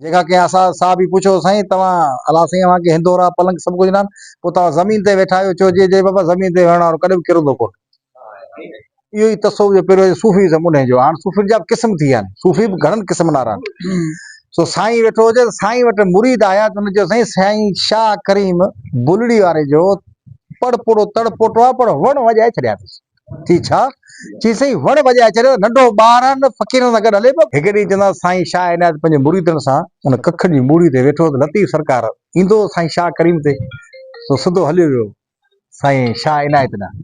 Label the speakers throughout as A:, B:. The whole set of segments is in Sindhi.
A: جنهن کان ڪنهن اسان صاحب ئي پڇيو سائين توهان الله سائين اوهان کي هندورا پلنگ سڀ ڪجهه ڏنان پوء توهان زمين تي ويٺا آهيو چوجي چي بابا زمين تي ويهڻ وارو ڪڏهن به ڪرندو ڪونه اهو ئي تصوف جو پهريون صوفي ازم انهي جو هاڻ صوفين جا به قسم ٿي ويا آهن صوفي به گهڻن قسمن وارا آهن سو سائين ويٺو هجي ته سائين وٽ مريد آيا ته هن چيو سائين سائين شاهه ڪريم بلڙي واري جو پڙ پوڙو تڙ پوٽو آهي پر وڻ وڄائي ڇڏيا اٿس چي ڇا؟ چي سائين وڻ وڄائي اچي رهيو آهي، ننڍو ٻار آهي نه فقيرن سان گڏ هلي پيو. هڪ ڏينهن چوندو آهي سائين شاهه عنايت پنهنجي مريدن سان ان ڪکن جي موڙي تي ويٺو هو ته لطيف سرڪار ايندو هو سائين شاهه ڪريم تي، سو سڌو هليو ويو سائين شاهه عنايت ڏانهن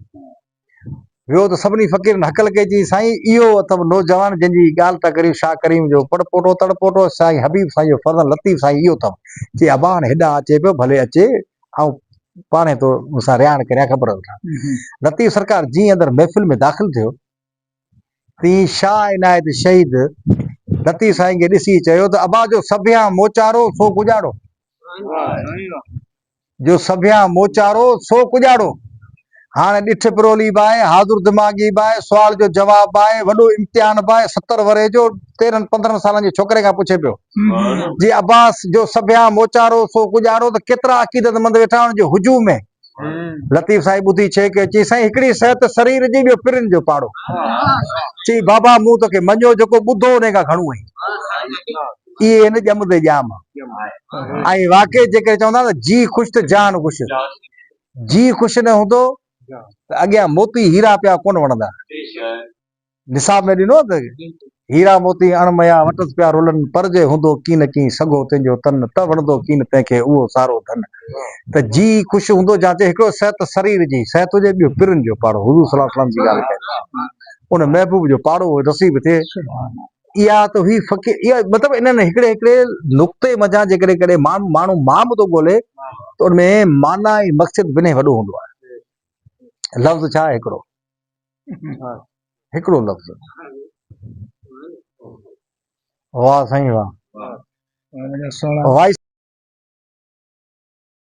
A: ويو ته سڀني فقيرن هڪ لکي چيائين سائين اهو اٿم نوجوان جنهن جي ڳالهه پيا ڪريون شاهه ڪريم جو پڙ پوٽو تڙ پوٽو سائين حبيب سائين جو فرزند لطيف سائين اهو اٿم. چي ابا هاڻي هيڏانهن اچي پيو ڀلي اچي آئون پاڻهي تو سان رهاڻ ڪريان خبر وٺان. لطيف سرڪار جيئن اندر محفل ۾ داخل ٿيو، تيئن شاهه عنايت شهيد لطيف سائين کي ڏسي چيو ته ابا جو سڀيان موچارو سو ڪڄاڙو. جو سڀيان موچارو سو ڪڄاڙو. هاڻ ڏٺ پرولي به آهي، حاضر دماغي به آهي، سوال جو جواب به آهي، وڏو امتحان به آهي، ستر ورهين جو تيرهن پندرهن سالن جي ڇوڪري کان پڇي پيو. جي عباس جو سڀيان موچارو سو ڪڄارو ته ڪيترا عقيدت مند ويٺا آهن جو هجوم ۾. لطيف سائين ٻڌي ڇيڪ اچي سائين هڪڙي صحت سرير جي ٻيو پرين جو پاڙو. چئي بابا مون تو کي مڃيو جيڪو ٻڌو انهي کان گهڻو هين. اهي هين ڄم تي ڄام. ۽ واقعي جيڪڏهن چون ٿا نه جي خوش ته جهان خوش. جي خوش نه هوندو ته اڳيان موتي هيرا پيا ڪونه وڻندا. نصاب ۾ ڏنو ته هيرا موتي اڻ مئا وٽس پيا رولن پر جي هوندو ڪين ڪين سگهو تنهن جو تن ته وڻندو ڪين تنهن کي اهو سارو ڌن ته جي خوش هوندو جان چي هڪڙو صحت سرير جي صحت هجي ٻيو پرن جو پاڙو حضور صلي الله عليه وسلم جي ڳالهه ڪئي ان محبوب جو پاڙو نصيب ٿئي اها ته هئي فقير اها مطلب انهن هڪڙي هڪڙي نقطي منجهان جيڪڏهن ڪڏهن ماڻهو ماڻهو مان به ٿو ڳولي ته ان ۾ معنيٰ ۽ مقصد ٻنهي وڏو هوندو آهي لفظ ڇا آهي هڪڙو هڪڙو لفظ واهه سائين واهه واهه